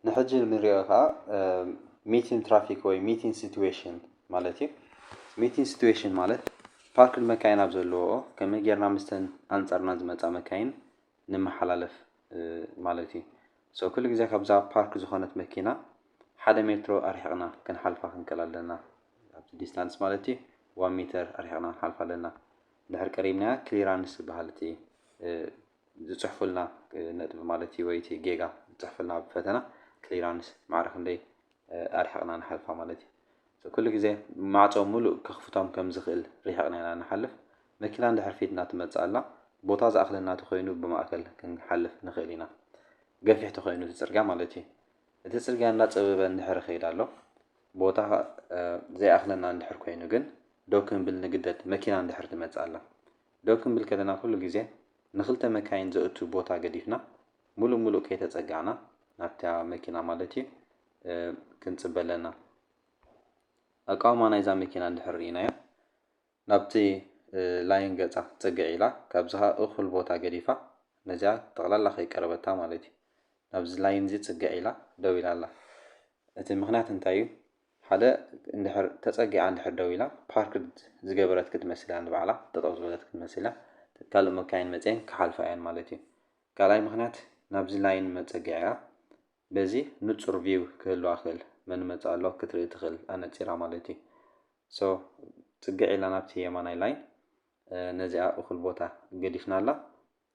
ንሕጂ ንሪኦ ከዓ ሚቲን ትራፊክ ወይ ሚቲን ሲትዌሽን ማለት እዩ ሚቲን ሲትዌሽን ማለት ፓርክድ መካይን ኣብ ዘለዎ ከመይ ጌርና ምስተን ኣንጻርና ዝመፃ መካይን ንመሓላለፍ ማለት እዩ so ኩሉ ግዜ ካብዛ ፓርክ ዝኾነት መኪና ሓደ ሜትሮ ኣርሒቕና ክንሓልፋ ክንክእል ኣለና ኣብቲ ዲስታንስ ማለት እዩ ዋን ሜተር ኣርሒቕና ክንሓልፋ ኣለና ድሕር ቀሪብናያ ክሊራንስ ዝበሃል እቲ ዝፅሕፉልና ነጥቢ ማለት እዩ ወይ እቲ ጌጋ ዝፅሕፉልና ኣብ ፈተና ክሊራንስ ማዕረ ክንደይ ኣርሒቕና ንሓልፋ ማለት እዩ ኩሉ ግዜ ማዕጾ ምሉእ ከኽፍቶም ከም ዝኽእል ርሒቕና ኢና እንሓልፍ። መኪና እንድሕር ፊትና ትመጽእ ኣላ፣ ቦታ ዝኣኽለና ተኾይኑ ብማእከል ክንሓልፍ ንኽእል ኢና። ገፊሕ ተኾይኑ እቲ ጽርግያ ማለት እዩ። እቲ ጽርግያ እንዳጸበበ እንድሕር ይኸይድ ኣሎ፣ ቦታ ዘይኣኽለና እንድሕር ኮይኑ ግን ደው ክንብል ንግደድ መኪና እንድሕር ትመጽእ ኣላ። ደው ክንብል ከለና ኩሉ ግዜ ንኽልተ መካይን ዘእቱ ቦታ ገዲፍና ምሉእ ምሉእ ከይተጸጋዕና ናብታ መኪና ማለት እዩ ክንጽበ ኣለና። ኣቃውማ ናይዛ መኪና እንድሕር ርኢናዮ፣ ናብቲ ላይን ገጻ ጽግዕ ኢላ፣ ካብዚኻ እኹል ቦታ ገዲፋ፣ ነዚኣ ጠቕላላ ከይቀረበታ ማለት'ዩ፣ ናብዚ ላይን'ዚ ጽግዕ ኢላ ደው ኢላ ኣላ። እቲ ምኽንያት እንታይ'ዩ? ሓደ እንድሕር ተጸጊዓ እንድሕር ደው ኢላ፣ ፓርክድ ዝገበረት ክትመስል'ያ ንባዕላ፣ ጠጠው ዝበለት ክትመስል'ያ፣ ካልእ መካይን መጺኤን ክሓልፋ'የን ማለት'ዩ። ካልኣይ ምኽንያት፣ ናብዚ ላይን መጸግዒኣ በዚ ንጹር ቪው ክህልዋ ክእል መን ይመጽእ ኣሎ ክትርኢ ትክእል ኣነጺራ ማለት እዩ so ጽግዕ ኢላ ናብቲ የማናይ ላይን ነዚኣ እኩል ቦታ ገዲፍናላ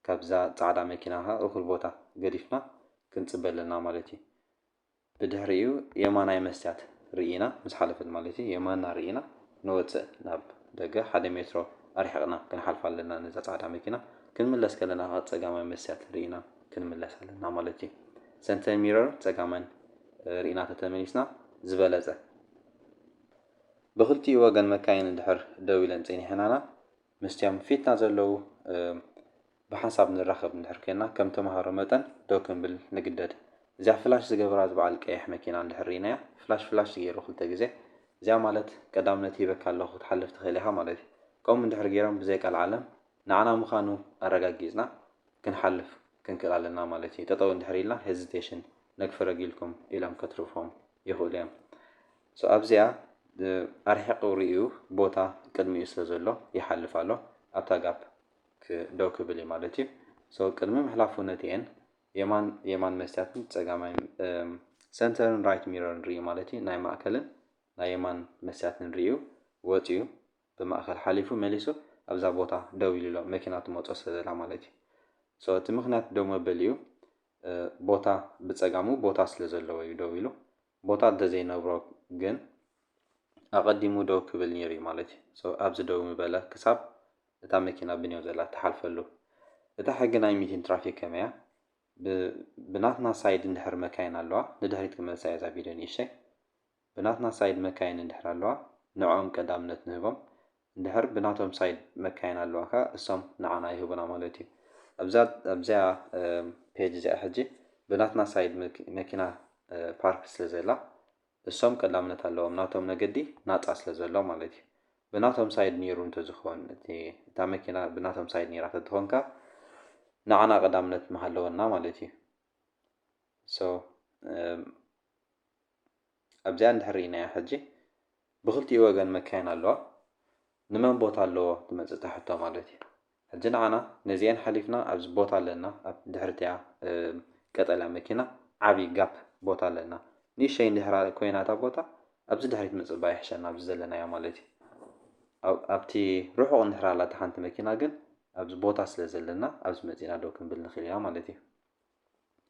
ካብዛ ጻዕዳ መኪና ከኣ እኩል ቦታ ገዲፍና ክንጽበ ኣለና ማለት እዩ ብድሕሪኡ የማናይ መስትያት ርኢና ምስ ሓለፈት ማለት እዩ የማና ርኢና ንወጽእ ናብ ደገ ሓደ ሜትሮ ኣርሒቅና ክንሓልፋ ኣለና ነዛ ጻዕዳ መኪና ክንምለስ ከለና ከኣ ጸጋማይ መስትያት ርኢና ክንምለስ ኣለና ማለት እዩ። ሰንተር ሚረር ጸጋመን ርኢና ተተመሊስና ዝበለጸ። ብክልቲኡ ወገን መካይን እንድሕር ደው ኢለን ጸኒሐናና ምስቲኦም ፊትና ዘለዉ ብሓንሳብ ንራኸብ እንድሕር ኮይንና ከም ተማሃሮ መጠን ደው ክንብል ንግደድ። እዚኣ ፍላሽ ዝገበራ ዝበዓል ቀይሕ መኪና እንድሕር ርኢናያ ፍላሽ ፍላሽ ዝገይሩ ክልተ ግዜ እዚኣ ማለት ቀዳምነት ሂበካ ኣለኹ ክትሓልፍ ትኽእል ኢኻ ማለት እዩ። ከምኡ እንድሕር ገይሮም ብዘይ ቀልዓለም ንዓና ምኻኑ ኣረጋጊጽና ክንሓልፍ ክንክእል ኣለና ማለት እዩ ጠጠው እንድሕር ኢልና ሄዚቴሽን ነግፊ ረጊልኩም ኢሎም ከትርፎም ይኽእሉ እዮም ሶ ኣብዚኣ ኣርሒቑ ርእዩ ቦታ ቅድሚኡ ስለ ዘሎ ይሓልፍ ኣሎ ኣብታ ጋፕ ደው ክብል እዩ ማለት እዩ ሶ ቅድሚ ምሕላፉ ነቲኤን የማን የማን መስትያትን ፀጋማይ ሰንተርን ራይት ሚረርን ርእዩ ማለት እዩ ናይ ማእከልን ናይ የማን መስትያትን ርእዩ ወፅዩ ብማእከል ሓሊፉ መሊሱ ኣብዛ ቦታ ደው ኢሉ ኣሎ መኪና ትመጾ ስለ ዘላ ማለት እዩ so እቲ ምኽንያት ደው መበሊኡ ቦታ ብጸጋሙ ቦታ ስለ ዘለዎ እዩ ደው ኢሉ ቦታ እንተ ዘይነብሮ ግን ኣቐዲሙ ደው ክብል ኔሩ እዩ ማለት እዩ so ኣብዚ ደው ምበለ ክሳብ እታ መኪና ብኔው ዘላ ትሓልፈሉ እታ ሕጊ ናይ ሚቲን ትራፊክ ከመይ እያ ብ ብናትና ሳይድ እንድሕር መካይን ኣለዋ ንድሕሪት ክመልሳ እየ እዛ ቪድዮ ንእሽተይ ብናትና ሳይድ መካይን እንድሕር ኣለዋ ንዕኦም ቀዳምነት ንህቦም እንድሕር ብናቶም ሳይድ መካይን ኣለዋ ከኣ እሶም ንዓና ይህቡና ማለት እዩ ኣብዛ ኣብዚኣ ፔጅ እዚኣ ሕጂ ብናትና ሳይድ መኪና ፓርክ ስለ ዘላ እሶም ቀዳምነት ኣለዎም ናቶም መገዲ ናጻ ስለ ዘሎ ማለት እዩ ብናቶም ሳይድ ኔሩ እንተዝኾን እቲ እታ መኪና ብናቶም ሳይድ ኔራ ተትኾንካ ንዓና ቀዳምነት ምሃለወና ማለት እዩ ሶ ኣብዚኣ እንድሕር ርኢናያ ሕጂ ብክልቲኡ ወገን መካይን ኣለዋ ንመን ቦታ ኣለዎ ትመጽእ እታ ሕቶ ማለት እዩ ሕጂ ንዓና ነዚኤን ሓሊፍና ኣብዚ ቦታ ኣለና ኣብ ድሕርቲያ ቀጠልያ መኪና ዓብዪ ጋፕ ቦታ ኣለና ንእሸይ እንድሕራ ኮይና እታ ቦታ ኣብዚ ድሕሪት ምጽባ ይሕሸና ኣብዚ ዘለናዮ ማለት እዩ ኣብቲ ርሑቕ እንድሕር ኣላ እታ ሓንቲ መኪና ግን ኣብዚ ቦታ ስለ ዘለና ኣብዚ መጺና ደው ክንብል ንኽእል ኢና ማለት እዩ።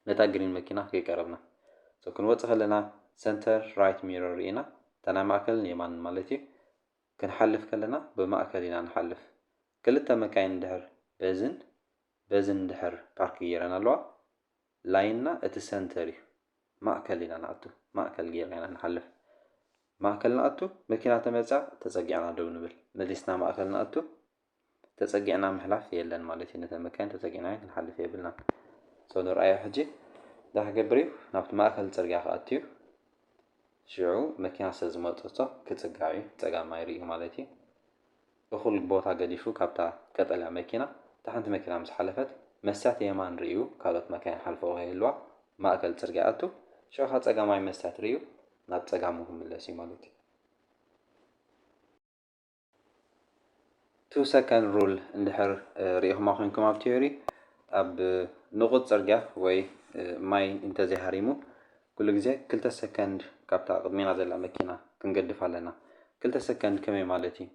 ነታ ግሪን መኪና ከይቀረብና so ክንወጽእ ከለና ሰንተር ራይት ሚረር ርኢና እታ ናይ ማእከልን የማንን ማለት እዩ ክንሓልፍ ከለና ብማእከል ኢና ንሓልፍ ክልተ መካይን እንድሕር በዝን በዝን እንድሕር ፓርክ ጌረን ኣለዋ ላይንና እቲ ሰንተር እዩ ማእከል ኢና ንኣቱ ማእከል ጌርና ኢና ንሓልፍ ማእከል ንኣቱ መኪና ተመጽያ ተጸጊዕና ደው ንብል መሊስና ማእከል ንኣቱ ተጸጊዕና ምሕላፍ የለን ማለት እዩ ነተን መካይን ተጸጊዕናየን ክንሓልፍ የብልናን so ንርኣዮ ሕጂ እንታይ ክገብር እዩ ናብቲ ማእከል ጽርግያ ክኣቱ እዩ ሽዑ መኪና ስለ ዝመጸቶ ክጽጋዕ እዩ ጸጋም ኣይርእዩ ማለት እዩ እኹል ቦታ ገዲፉ ካብታ ቀጠልያ መኪና እታ ሓንቲ መኪና ምስ ሓለፈት መስትያት የማን ርእዩ ካልኦት መካይን ሓልፈኦ ከይህልዋ ማእከል ጽርግያ ኣቱ ሽዑ ካብ ጸጋማይ መስትያት ርእዩ ናብ ጸጋሙ ክምለስ እዩ ማለት እዩ ቱ ሰከንድ ሩል እንድሕር ሪኢኹማ ኮይንኩም ኣብ ቲዮሪ ኣብ ንቑፅ ፅርግያ ወይ ማይ እንተዘይሃሪሙ ኩሉ ግዜ ክልተ ሰከንድ ካብታ ቅድሜና ዘላ መኪና ክንገድፍ ኣለና። ክልተ ሰከንድ ከመይ ማለት እዩ?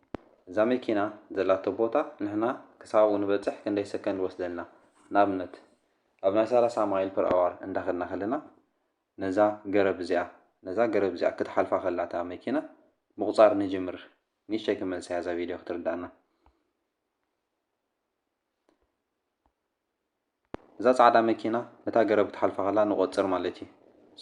እዛ መኪና ዘላቶ ቦታ ንሕና ክሳብኡ ንበፅሕ ክንደይ ሰከንድ ወስደልና? ንኣብነት ኣብ ናይ ሰላሳ ማይል ፐር ኣዋር እንዳኸድና ከለና ነዛ ገረብ እዚኣ ነዛ ገረብ እዚኣ ክትሓልፋ ከላ እታ መኪና ምቁጻር ንጅምር ንእሽተይ ክመልሰያ እዛ ቪድዮ ክትርድኣና እዛ ጻዕዳ መኪና ነታ ገረብ ክትሓልፋ ከላ ንቆጽር ማለት እዩ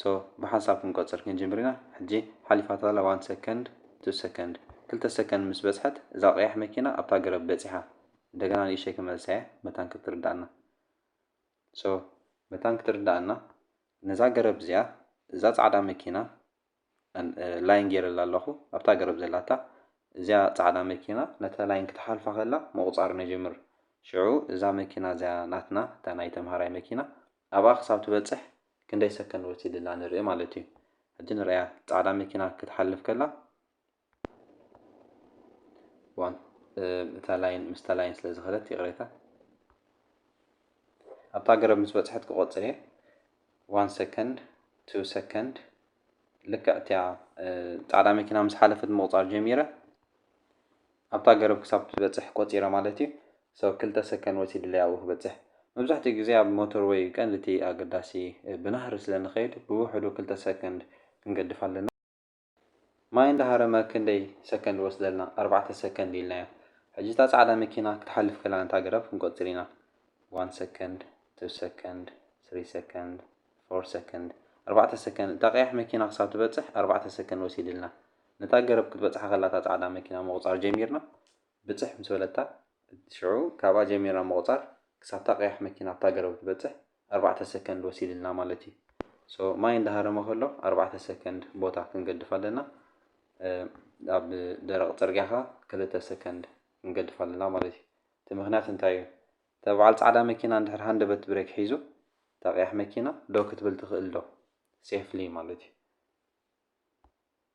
ሶ ብሓንሳብ ክንቆጽር ክንጅምር ኢና ሕጂ ሓሊፋታ ኣላ ዋን ሰከንድ ቱ ሰከንድ ክልተ ሰከንድ ምስ በጽሐት እዛ ቀያሕ መኪና ኣብታ ገረብ በጺሓ እንደገና ንእሽተይ ክመልሰያ መታን ክትርድኣና so መታን ክትርዳኣና ነዛ ገረብ እዚኣ እዛ ጻዕዳ መኪና ላይን ጌረላ ኣለኹ ኣብታ ገረብ ዘላታ እዚኣ ጻዕዳ መኪና ነታ ላይን ክትሓልፋ ከላ ምቑጻር ነጅምር ሽዑ እዛ መኪና እዚኣ ናትና እታ ናይ ተምሃራይ መኪና ኣብኣ ክሳብ ትበጽሕ ክንደይ ሰከንድ ወሲድላ ንርኢ ማለት እዩ ሕጂ ንርእያ ጻዕዳ መኪና ክትሓልፍ ከላ ዋን እታ ላይን ምስታ ላይን ስለ ዝኸደት ይቕሬታ ኣብታ ገረብ ምስ በፅሐት ክቆፅር እየ ዋን ሰከንድ ቱ ሰከንድ ልክዕ እቲያ ፃዕዳ መኪና ምስ ሓለፈት ምቑፃር ጀሚረ ኣብታ ገረብ ክሳብ ትበፅሕ ቆፂረ ማለት እዩ ሰው ክልተ ሰከንድ ወሲድለይ ኣብኡ ክበፅሕ መብዛሕትኡ ግዜ ኣብ ሞተር ወይ ቀንዲ እቲ ኣገዳሲ ብናህሪ ስለ ንኸይድ ብውሕዱ ክልተ ሰከንድ ክንገድፍ ኣለና ማይ እንዳሃረመ ክንደይ ሰከንድ ወስደልና ኣርባዕተ ሰከንድ ኢልናዮ ሕጂ እታ ጻዕዳ መኪና ክትሓልፍ ከላ ነታ ኣግራብ ክንቆጽር ኢና ዋን ሰከንድ ቱ ሰከንድ ስሪ ሰከንድ ፎር ሰከንድ ኣርባዕተ ሰከንድ እታ ቀያሕ መኪና ክሳብ ትበጽሕ ኣርባዕተ ሰከንድ ወሲድልና ነታ ገረብ ክትበጽሓ ከላ እታ ጻዕዳ መኪና ምቁጻር ጀሚርና ብጽሕ ምስ በለታ ሽዑ ካብኣ ጀሚርና ምቁጻር ክሳብታ ቀያሕ መኪና ኣብታ ገረብ ትበጽሕ ኣርባዕተ ሰከንድ ወሲድልና ማለት እዩ so ማይ እንዳሃረመ ከሎ ኣርባዕተ ሰከንድ ቦታ ክንገድፍ ኣለና ኣብ ደረቕ ጽርግያ ከኣ ክልተ ሰከንድ ክንገድፍ ኣለና ማለት እዩ እቲ ምክንያት እንታይ እዩ እታ በዓል ጻዕዳ መኪና እንድሕር ሃንደበት ብሬክ ሒዙ እታ ቀያሕ መኪና ደው ክትብል ትኽእል ዶ ሴፍሊ ማለት እዩ